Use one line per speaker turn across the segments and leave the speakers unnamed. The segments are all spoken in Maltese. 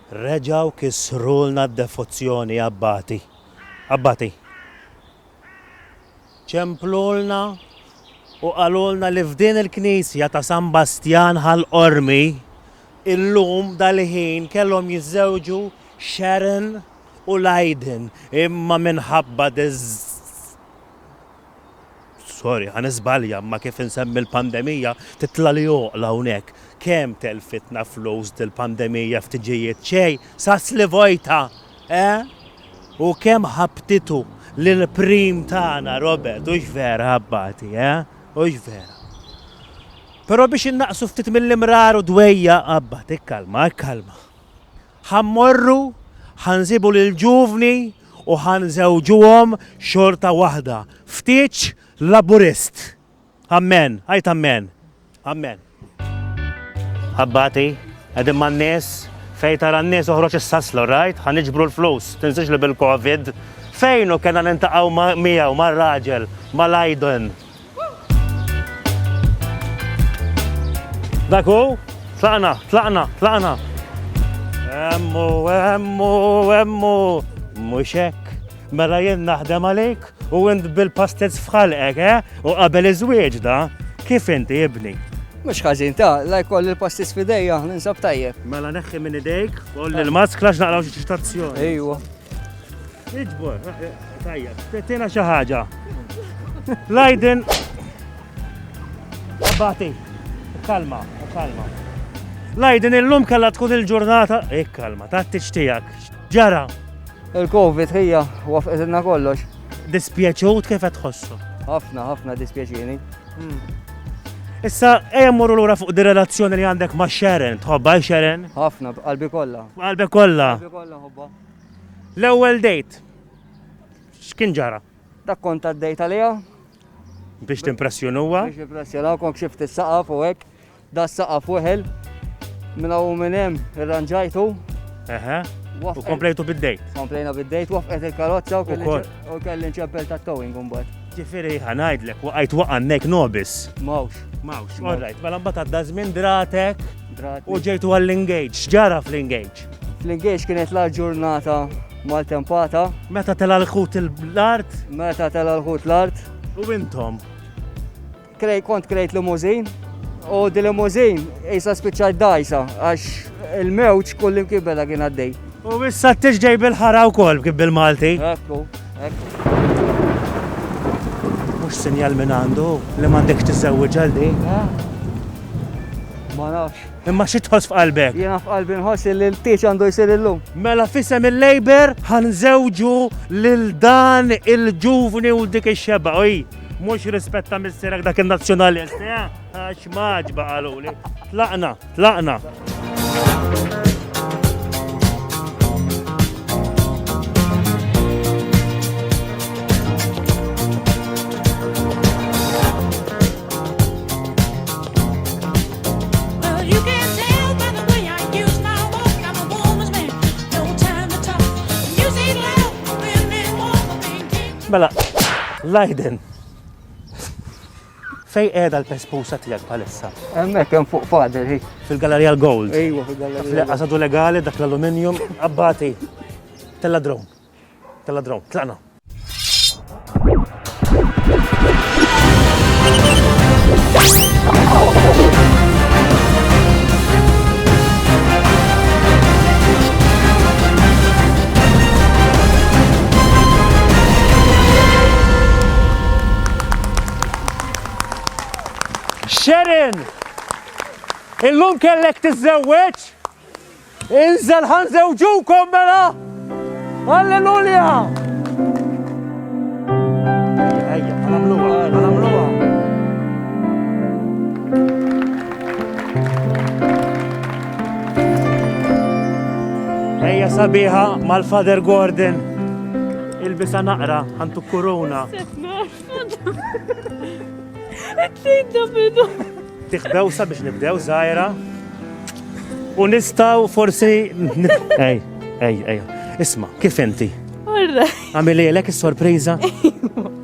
Reġgħu kissrulna d-devozzjoni Abbati. Abbati. Ċemplulna u qalulna li f'din il-knisja ta' San Bastjan Ħal Qormi illum dal-ħin kellhom jiżżewġu Sharon u Lydon imma minħabba diż Sorry, ħa niżbalja, imma kif insemmi l-pandemija, titlali għoqla hawnhekk. Kemm telfitna flus dil-pandemija f'tiġijiet xejn, sas li vojta! Eh? U kemm ħabbtitu lill-Prim tagħna, Robert, hux vera, Abbati, eh? Hux vera? Però biex innaqqsu ftit mill-imrar u d-dwejjaq, Abbat, ikkalma, ikkalma. Ħa mmorru, ħa nsibu lill-ġuvni u ħa nżewġuhom xorta waħda. Ftiġ Laburist. Ammen. Għid ammen. Ammen. Abbati, qegħdin man-nies, fejn tara n-nies oħroġ is-sasla, all right? Ħa niġbru l-flus, tinsiex li bil-Covid fejn hu kellna niltaqgħu miegħu mar-raġel, mal-Aiden, Dak hu, tlaqna, tlaqna, tlaqna. Emmu, emmu, emmu. Mhux hekk. Mela jien naħdem għalik u int bil-pastez fħalqek, eh? U qabel iż-żwieġ da, kif inti ibni? Mhux ħażin ta'
la jkoll il-pastez f'idejja, ninsab tajjeb. Mela neħħi minn idejk,
koll il-maskla x'naqraw xi ċitazzjoni. Ejwa. Iġbor, eh, eh, tajja, tetina xi ħaġa. Lajden. Abati. Kalma, kalma. Lajden illum kalla tkun il-ġurnata. Ik eh, kalma, ta' t-tixtijak. Ġara. Il-Covid
hija wafqetilna kollox. Dispjaċut
kif qed tħossu? Ħafna, ħafna
dispjaċini. Hmm.
Issa, ejja morru lura fuq di relazzjoni li għandek ma' Sharon, tħobba Sharon? Ħafna, qalbi kollha.
Qalbi kollha. Qalbi
kollha ħobba.
L-ewwel
dejt. X'kien ġara? Dak kont għaddejt
għaliha. Biex
timpressjonuha? Biex impressjonaw kont
xift is-saqaf u hekk. Da saqaf weħel. Minn hawn minn hemm irranġajtu. Eħe. U komplejtu bid-dejt. Komplejna bid-dejt, wafqet il-karozza u kelli nċempel ta' towing mbagħad. Ġifieri ħanajdlek
waqajt waqannek nobis. Mawx.
Mawx. All right,
mela mbagħad għadda żmien dratek. U ġejtu għall-engage, ġara fl-engage. Fl-ingaġġ kienet l
ġurnata mal-tempata. Meta tela
l-ħut l-art? Meta tela l-ħut
l-art. U intom? Kont krejt limuzin u di limuzin jisa spiċċajt dajsa għax il-mewġ kullim kibbela kien għaddej. U issa t-tixġej
bil-ħara u kol kib bil-Malti. Ekku,
ekku.
Mux sinjal minn għandu li mandekx t-zewġ għaldi. Ma
nafx. Imma xi tħoss f'qalbek?
Jiena f'qalbi nħoss
li l-tieġ għandu jsir illum. Mela f'isem
il-Labour ħanżewġu lil dan il-ġuvni u dik ix-xebgħa. Oj, mhux rispetta missierek dak in-Nazzjonalist, eh? Għax maġba qaluli. Tlaqna, tlaqna. Mela, Lajden. Fej qiegħda l-pespusa tiegħek bħalissa? Hemmhekk hemm fuq
fader hi. Fil-Galleria l-Gold.
Ejwa, fil-Galleria.
Fl-qasadu legali dak
l-aluminium abbati tella drone. Tella drone, tlaqna! Sharon! Illum kellek tiżżewweġ? Inżel ħan żewġukom mela! Alleluja! Ejja sabiħa mal-Father Gordon. Il-bisa naqra, għantu kuruna. Tlinda bidu. Tih bewsa biex nibdew żgħira. U nistgħu forsi ej, ej, ej. Isma, kif inti? Għamil lek is-sorpriża?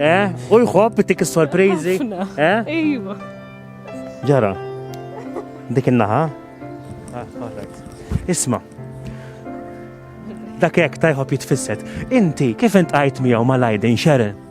Eh? U jħobb tik is-sorpriżi? Eh?
Iva.
Ġara. Dik in-naħa? Ah, Isma, dak hekk tajħob jitfisset. Inti kif int qajt miegħu mal-Aiden Sharon?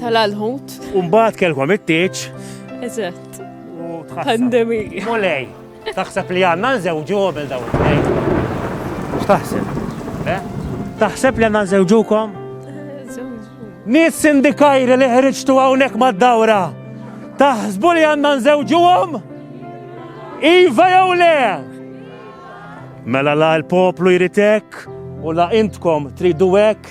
Tal-alħut.
U mbagħad kelkom it-tieġ.
Eżatt.
U
pandemija. Mulej, taħseb li għandna nżewġu qabel daw it-tnejn. X'taħseb? Eh? Taħseb li għandna nżewġukom? Nis sindikajri li ħriġtu hawnhekk mad-dawra. Taħsbu li għandna nżewġuhom? Iva jew le? Mela la l-poplu jritek u la intkom tridu hekk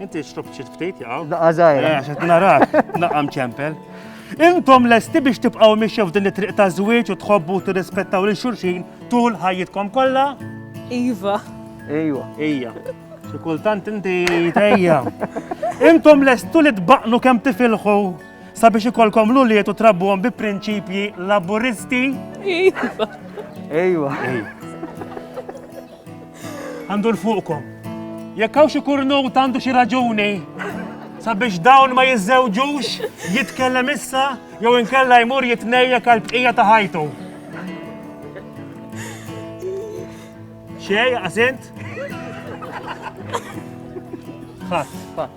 Inti xrob ċit ftit jaqaw? Daqqa zaħira. Eh, Xet
narak,
naqam ċempel. Intom lesti biex tibqaw miexja f'din it-triq ta' żwieġ u tħobbu tirrispettaw lil xulxin tul ħajjitkom kollha? Iva.
Ejwa.
Ejja.
Xi kultant inti tejja. Intom lestu li tbaqnu kemm tifilħu sabiex ikolkom l-uliet u trabbuhom bi prinċipji laburisti?
Iva. Ejwa.
Ejja.
Għandur fuqkom. Jekk hawn xi kurnut għandu xi raġuni sabiex dawn ma jiżżewġux, jitkellem issa jew inkella jmur jitnejjek għal bqija ta' ħajtu. Xej, għasint? Ħadd, ħadd.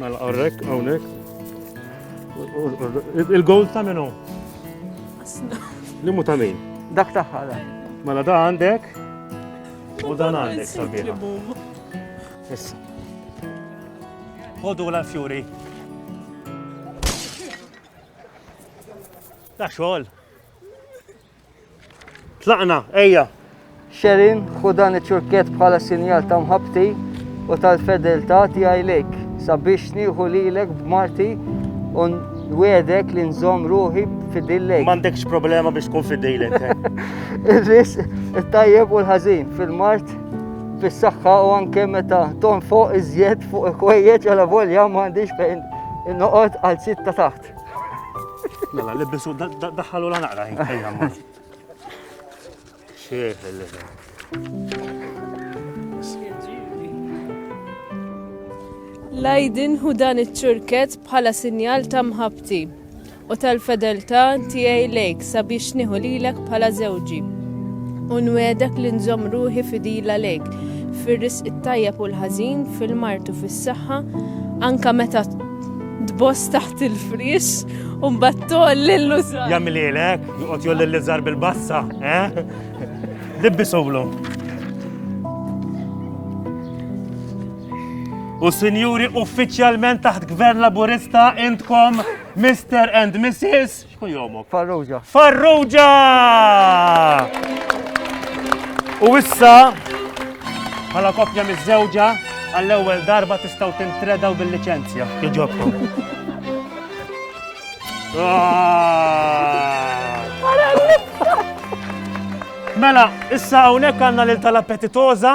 Mela għarrek, għawnek. Il-gold ta' minu? Limu ta' min? Dak taħħa da.
Mela da għandek?
U dan għandek sabiħa. Issa. Ħodu l-fjuri. Da xogħol. Tlaqna, ejja! Sherin,
ħu dan iċ-ċurkett bħala sinjal ta' mħabbti u tal-fedeltà tiegħi lejk, sabiex nieħu lilek b'marti u nwedek li nżomm ruħi fidil lejk. M'għandekx problema
biex tkun fidilek. Eh? Irris
it-tajjeb u l-ħażin fil-mart fis-saħħa u anke meta ton fuq iżjed fuq il-kwejjeġ għala volja m'għandix fejn noqgħod għal sitta taħt. Mela,
li bisu daħħalu la naqra ejja ma. Xieħ li
Lajdin hu dan iċ-ċurket bħala sinjal ta' mħabti u tal-fedeltà tiegħi lejk sabiex nieħu lilek bħala żewġi. U nwedek li nżomm ruħi fidila lejk fir-risq it-tajjeb u l-ħażin, fil-martu fis-saħħa, anka meta Tboss taħt il-frix u mbagħad tolli l-lużar. Jagħmililek, joqgħod
jolli l-lużar bil-bassa, eh? Libbisulu. U sinjuri uffiċjalment taħt Gvern Laburista intkom Mr. and Mrs. Xkun jomok? Farrugia. Farrugia! U issa, bħala kopja miż-żewġa, għall-ewwel darba tistgħu tintredaw bil-liċenzja. Jiġobkom. Mela, issa hawnhekk għandna lil tal-appetitoża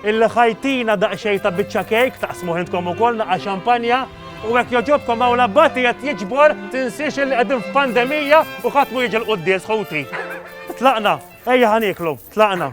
Il-ħajtina daqxejn ta' biċċa kejk, taqsmuh intkom ukoll naqa' xampanja, u hekk jogħġobkom hawn l-Abbati qed jiġbor, tinsiex illi qegħdin f'pandemija u ħadd mhu jiġi l-quddies ħuti. Tlaqna, ejja ħa nieklu, tlaqna.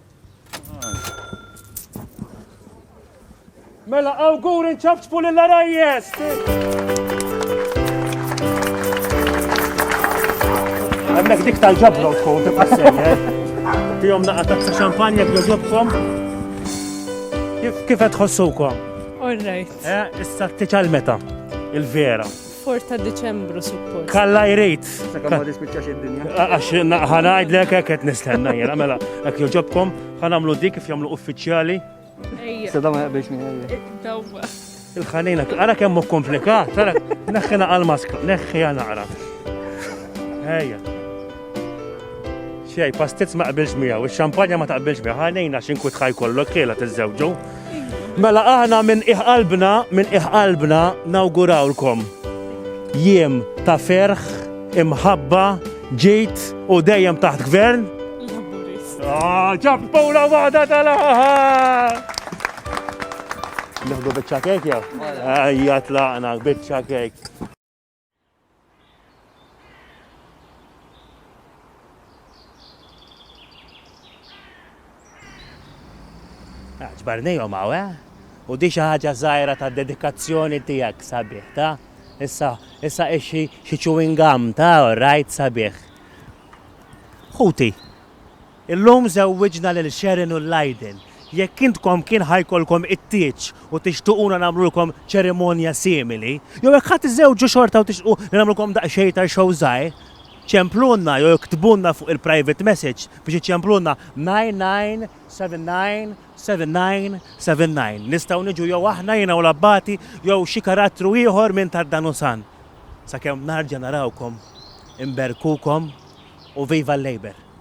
Mela, awgur inċabċbu l-arajjes! Għemmek dik tal-ġabra u tkun tibqa' sejjer. Eh? Tijom naqa tazza xampanja b'joġobkom. Kif qed tħossukom? All right.
Eh, issa t-tiċal
meta? Il-vera. Fort ta'
Diċembru suppost. Kalla jrid.
Sakamma dispiċċax id-dinja. Għax
ħanajdlek hekk qed nistenna jiena mela hekk joġobkom ħanamlu dik kif jagħmlu uffiċjali. Sada
ma jaqbilx minn eh, Dawwa.
Il-ħanina,
ara kemm hu komplikat, ara neħħina għal-maska, neħħi għal naqra. Ejja. Xej, pastizz ma qbilx miegħu, ix-xampanja ma taqbilx miegħu, ħanejna xi nkut ħaj kollok ħiela tiżżewġu. Mela aħna minn iħqalbna, minn iħqalbna nawgurawlkom jiem ta' ferħ, imħabba, ġid u dejjem taħt gvern. Ah, ġabbura waħda tal-aħħar! Naħdu bieċa kek jew? Ejja tlaqna bieċa kek. Ġbarnijom għaw, eh? U di xi ħaġa żgħira ta' dedikazzjoni tiegħek sabiħ, ta? Issa, issa ixi xi chewing gum, ta? All right, sabiħ. Ħuti, Illum żewwiġna lil Sharon u Lydell. Jekk intkom kien ħa jkollkom it-tieġ u tixtuquna nagħmlulkom ċerimonja simili, jew jekk ħa tiżżewġu xorta u tixtqu li nagħmlulkom daqsxejn ta' show żgħir, ċemplulna jew iktbulna fuq il-private message biex iċċemplulna 99797979. Nistgħu niġu jew aħna, jiena u l-Abbati, jew xi karattru ieħor minn tad-Danusan. Sakemm narġa' narawkom, inberkukom u viva l-Labour!